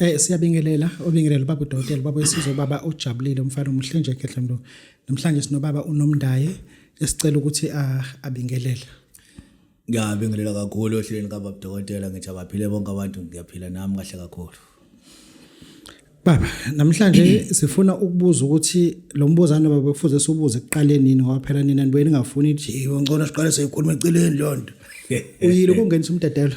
Eh siyabingelela obingelela baba udokotela baba wesizwe baba ojabulile umfana omuhle nje khehla mntu namhlanje sinobaba unomndaye esicela ukuthi ah, abingelele ngiyabingelela kakhulu ohlelweni kababa udokotela ngithi abaphile bonke abantu ngiyaphila nami kahle kakhulu Baba, namhlanje sifuna ukubuza ukuthi lo mbuzane baba kufuze sibuze ekuqaleni yini ngoba phela nina nibuye ningafuni ukuthi hey ngcono siqale siyikhuluma eceleni lonto. Uyile ukungenisa umdedelo.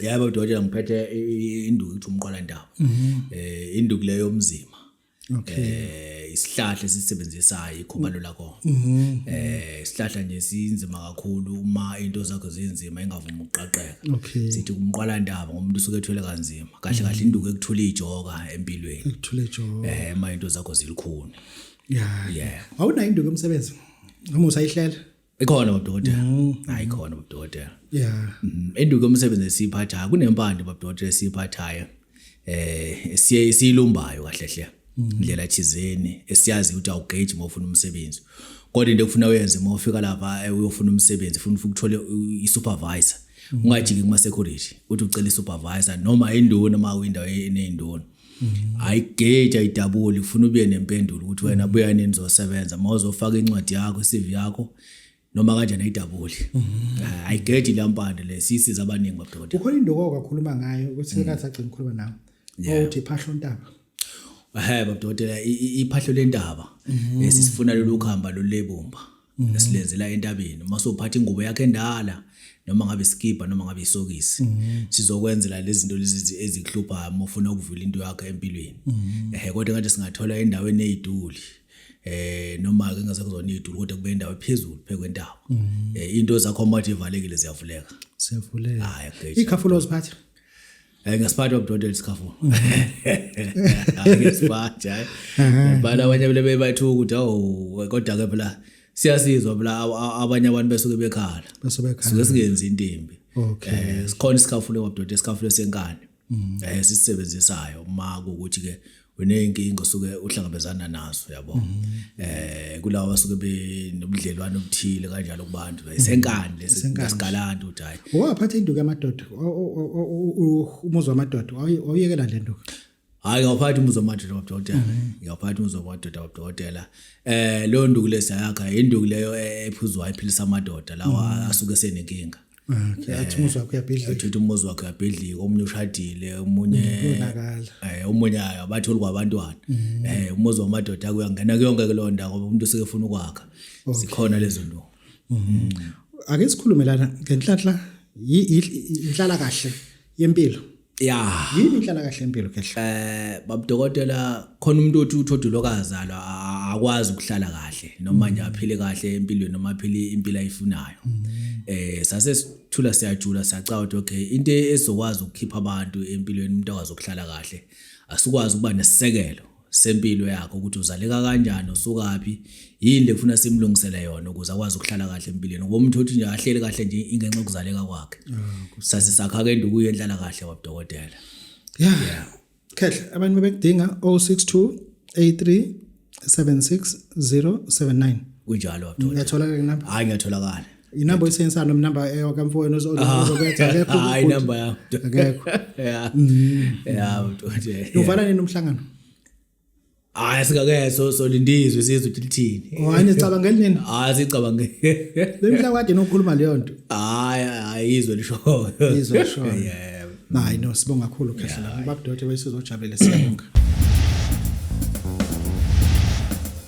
yabo udokotela ngiphethe induku ukuthi umqwalandawo mhm. eh induku leyo yomzima okay eh, isihlahla esisebenzisayo ikhubalo mm. lakho mhm. eh isihlahla nje sinzima kakhulu uma into zakho zinzima ingavumi ukuqaqeka sithi umqwalandaba ngomuntu usuke ethwele kanzima kahle kahle mhm. induku ekuthula ijoka empilweni ekuthula ijoka eh uma into zakho zilikhuni yeah yeah awunayo induku emsebenzi noma usayihlela ikhona babudodela mm. hayi khona babudodela yeah mm-hmm. enduke umsebenzi esiphathayo kunempande babudodela esiphathayo eh siye isilumbayo kahle hle mm-hmm. indlela thizeni esiyazi ukuthi awugage uma ufuna umsebenzi kodwa into ekufuna uyenze uma ufika lapha eh, uyofuna umsebenzi ufuna ukuthole i-supervisor mm-hmm. ungajiki kuma-security uthi ucela i-supervisor noma induna uma uyindawo eneyinduna e, ayigage ayidabuli ufuna ubuye nempendulo ukuthi wena mm. buya nini zosebenza uma uzofaka incwadi yakho i-CV yakho noma kanjani ayidabuli mm. ah, ayigage lampande le sisiza abaningi babudoda ukhona into okakhuluma ngayo ukuthi mm. kathi agcina ukukhuluma nawe ukuthi phahlo ntaba ehe babudoda iphahlo lentaba mm-hmm. esifuna lolu khamba lolebumba mm. esilenzela entabeni uma sophatha ingubo yakhe endala noma ngabe isikibha noma ngabe isokisi mm. sizokwenzela lezi zinto lezi ezikuhluphayo uma ufuna ukuvula into yakhe empilweni mm. ehe kodwa ngathi singathola endaweni eyiduli eh noma ke ngase kuzona idulu kodwa kube indawo ephezulu phekwentaba mm. eh into zakho mathi ivalekile ziyavuleka siyavuleka hayi ikhafulo ziphatha Eh ngesiphatha ubudodela isikhafu. Ngesiphatha hayi. Bala abanye bele bebathuka ukuthi awu kodwa ke phela siyasizwa phela abanye abantu besuke bekhala. Bese bekhala. Suke singenzi into embi. Okay. Eh, sikhona isikhafu lewabudodela isikhafu lesenkani. Mm. Eh sisisebenzisayo uma ukuthi ke uneyinkinga osuke uhlangabezana nazo yabo mhm. eh kulawa basuke benobudlelwane obuthile kanjalo kubantu mhm. isenkani lesigalanda uthi hayi waphatha induku yamadoda umuzwa amadoda awuyekela le nduku hayi ngiyawuphatha umuzwa wamadoda wabudokotela mhm. ngiyawuphatha umuzwa wamadoda wabudokotela eh leyo nduku lesayakha induku leyo e-, ephuzwayo iphilisa amadoda lawa asuke senenkinga Okay, athi umuzi wakho uyabhidlika. Athi umuzi wakho uyabhidlika, omunye ushadile, omunye uyonakala. Eh, omunye ayo abatholi kwabantwana. Mm. Eh, umuzi wamadoda kuyangena kuyonke kulonda ngoba umuntu useke ufuna ukwakha. Sikhona lezo nto. Mm. Ake sikhulumelana ngenhlanhla inhlala kahle yempilo. Yeah. Yini inhlala kahle impilo ke hlo? Eh babudokotela khona umuntu othi uthodu lokazalwa a- akwazi ukuhlala kahle noma nje aphile kahle empilweni noma aphile impilo ayifunayo. Eh sase sithula siyajula sacawa ukuthi okay into ezokwazi ukukhipha abantu empilweni umuntu akwazi ukuhlala kahle asikwazi ukuba nesisekelo sempilo yakhe ukuthi uzaleka kanjani usukaphi yini lekufuna simlungisele yona ukuze akwazi ukuhlala kahle empilweni ngoba umuntu othi nje ahleli kahle nje ingenxa yokuzaleka kwakhe ah, sasisakha ke nduku yenhlala kahle wabudokotela yeah khehle abantu bebekudinga 062 83 76079 kunjalo wabudokotela ngiyatholakala lapha hayi ngiyatholakala inamba oyisebenzisayo noma inamba yakamfowenu ozokwenza akekho hayi inamba yami akekho ya mm. ya mthoje uvala nini umhlangano hayi singake so so lindizwe sizwe ukuthi lithini oh, hayi nicabangeli nini hayi sicabange lemhla kade nokukhuluma leyo nto hayi hayi izwe lishoyo izwe lishoyo yeah hayi no sibonga kakhulu khehla babudote besizojabulela siyabonga